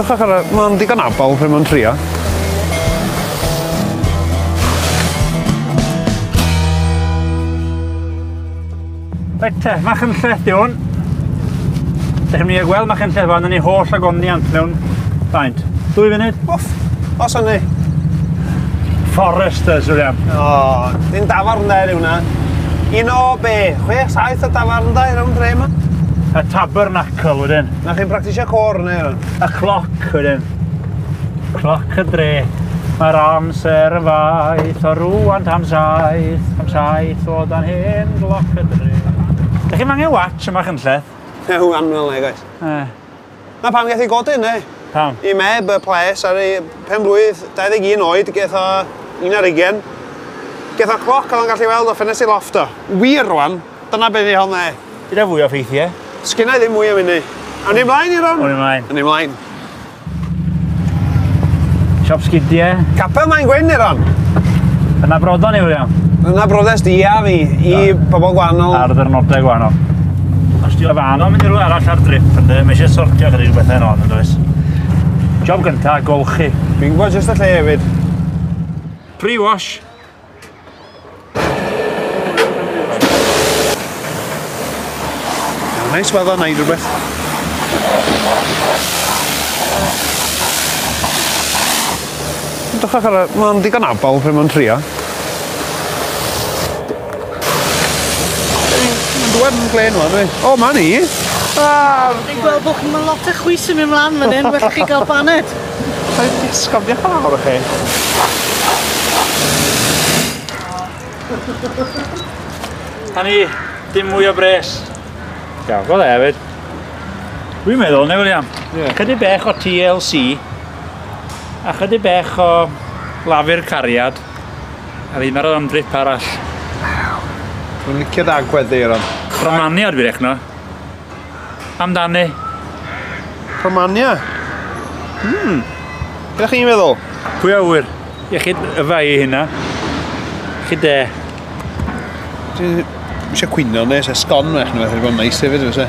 Dwch ar y... Mae'n digon abal pryd mae'n trio. Reit te, mach yn lleth i hwn. Dych ni gweld mach yn lleth fan, ni holl agoniant mewn faint. Dwy funud? Wff, os o'n ni. Foresters, William. O, oh, ni'n dafarn dda yw na. Un o be? Chwech, saith o dafarndai rownd dre ma? Y tabernacl wedyn. Na chi'n practisio côr neu rhan? Y cloc wedyn. Cloc y dre. Mae'r amser yn faith o rŵan tam saith, tam saith o dan hen gloc y dre. Dych chi'n angen watch yma chynlleth? Ew, anwel neu gwaith. Eh. Na pam gath i godi ynddo hi. Pam? I meb y ples ar ei phenblwydd 21 oed geth o un ar ugen. Geth o cloc oedd o'n gallu weld o ffenest ei lofft o. Wir rwan, dyna be ddiholna i. Gyda fwy o ffeithiau? Sgynna i ddim mwy am hynny. Awn ni mlaen i ron? Awn ni mlaen. Awn ni mlaen. Siop sgidiau. Capel mae'n gwyn i ron. Yna brodon i William. Yna brodes di a fi i pobl gwahanol. Ar ddyrnodau gwahanol. Os ti o fan o'n mynd i rhywle arall ar drip ynddo, mae eisiau sortio gyda'i rhywbeth ar on yn does. Job gynta, golchi. Dwi'n gwybod jyst y lle hefyd. Pre-wash. Nice weather, na i rhywbeth. Dwi'n chwech ar y... Mae'n digon abal pryd mae'n trio. Dwan yn glen wan, dwi. O, ma ni! Ah, Dwi'n gweld bod chi'n mynd lot o chwys yn mynd mlaen fan hyn, well chi gael baned. Rhaid i ysgaf, diolch yn fawr i chi. A ni, dim mwy o bres. Iawn, go dde hefyd. Dwi'n meddwl, neu William, yeah. chydig bech o TLC a chydig bech o lafur cariad. A fi barod am drip arall. Dwi'n licio dy agwedd di Aaron. Romania dwi rechno. Amdani. Romania? Hmm. Be chi'n meddwl? Pwy a ŵyr? Iechyd y fai i hynna. Iechyd de. Dwi'n eisiau cwyno nes e sgon fach nhw, wedi bod yn neis hefyd, fysa.